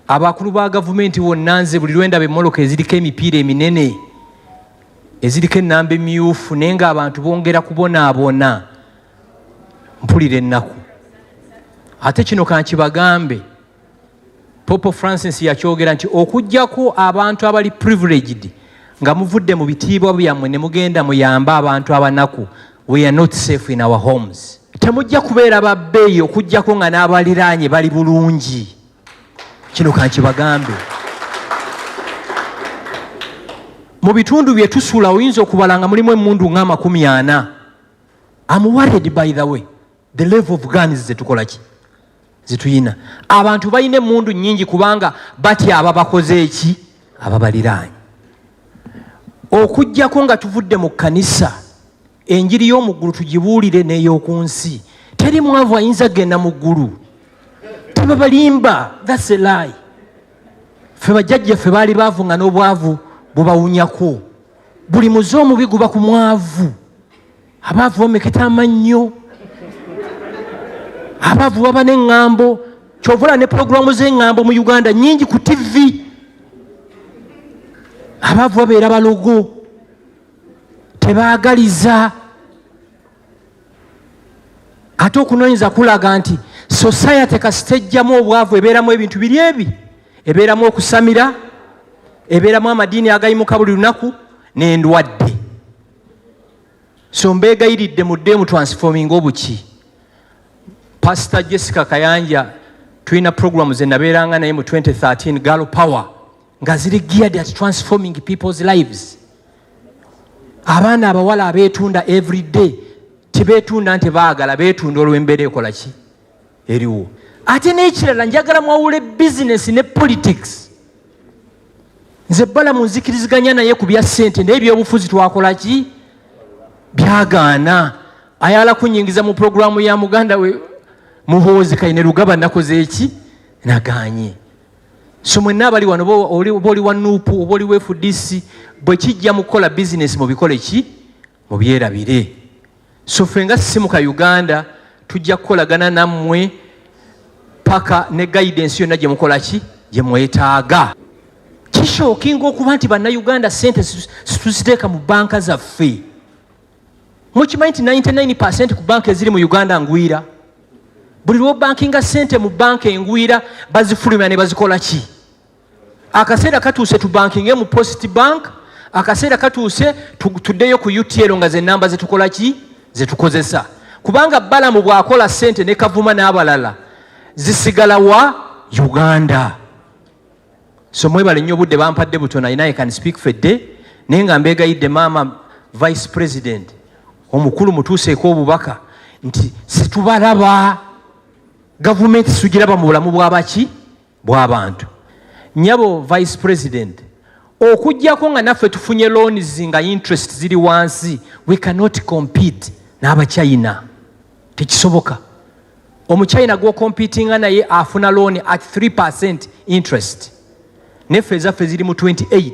abakulu ba gavumenti wonna nze buli lwendaba emmoloka eziriko emipiira eminene eziriko ennamba emyufu naye ng'abantu bongera kubonaabona mpulira ennaku ate kino kankibagambe popo francis yakyogera nti okugyako abantu abali privileged nga muvudde mu bitiibwa byammwe ne mugenda muyambe abantu abanaku We are not safe in our homes. Temujja kubeera ba bbeeyi okujjako nga n'abaliraanye bali bulungi. Kino kankibagambe. Mu bitundu bye tusula oyinza okubala nga mulimu emmundu ng'amakumi ana. I'm worried by the way. the level of guns zetukola ki zetuyina abantu balina emundu nyingi kubanga batya aba bakoze eki ababaliraanyi okujjako nga tuvudde mu kanisa enjiri y'omuggulu tugibuulire n'ey'oku nsi teri mwavu ayinza genda mu ggulu tebabalimba thaselayi fe bajjajjaffe baali baavu nga n'obwavu bubawunyako buli muze omubi guba ku mwavu abaavu bameketa amannyo abaavu baba neŋŋambo kyovula ne pulogulaamu z'eŋŋambo mu uganda nyingi ku tivi abaavu babeera balogo tebaagaliza ate okunoonyeza kulaga nti sosayate kasitejjamu obwavu ebeeramu ebintu biri ebi ebeeramu okusamira ebeeramu amadiini agayimuka buli lunaku n'endwadde so mbeegayiridde mudde mu transforming obuki pasita jessica kayanja tulina programu ze nabeeranga naye mu 2013 gal power nga ziri geared at transforming people's lives abaana abawala abeetunda every day tibetunda nti baagala beetunda olw'embeera ekolaki eriwo ate n'ekirala njagala mwawule bizinesi ne politics nze bala munzikiriziganya naye ku bya ssente naye ebyobufuzi twakola ki byagaana ayala kunyingiza mu pulogulaamu ya muganda we muhoozi kaine lugaba nakoze eki naganye so mwenna abali wano oba oli wa nuupu oba oli wefudisi bwe kijja mu kukola bizinesi mubikole ki mubyerabire so ffe nga simu ka uganda tujja kukolagana nammwe paka ne guidance yonna gye mukola ki gye mwetaaga kishookinga okuba nti bannayuganda sente situziteeka mu banka zaffe mukimanyi nti 99 percent ku banka eziri mu uganda ngwira buli lwobankinga sente mu banka engwira bazifulumya ne bazikola ki akaseera katuuse tubankinge mu post bank akaseera katuuse tuddeyo ku utl nga zenamba zetukola ki zetukozesa kubanga balamu bwakola sente ne kavuma n'abalala zisigala wa uganda so mwebale nnyo obudde bampadde butona ina i can speak for day naye nga mbegayidde maama vice president omukulu mutuuseeko obubaka nti situbalaba gavumenti sugiraba mu bulamu bwabaki bw'abantu nyabo vice president okujjako nga naffe tufunye loans nga interest ziri wansi we cannot compete n'abachina tekisoboka omuchina gwocompetinga naye afuna loan at 3 percent interest neffe ezaffe ziri mu 28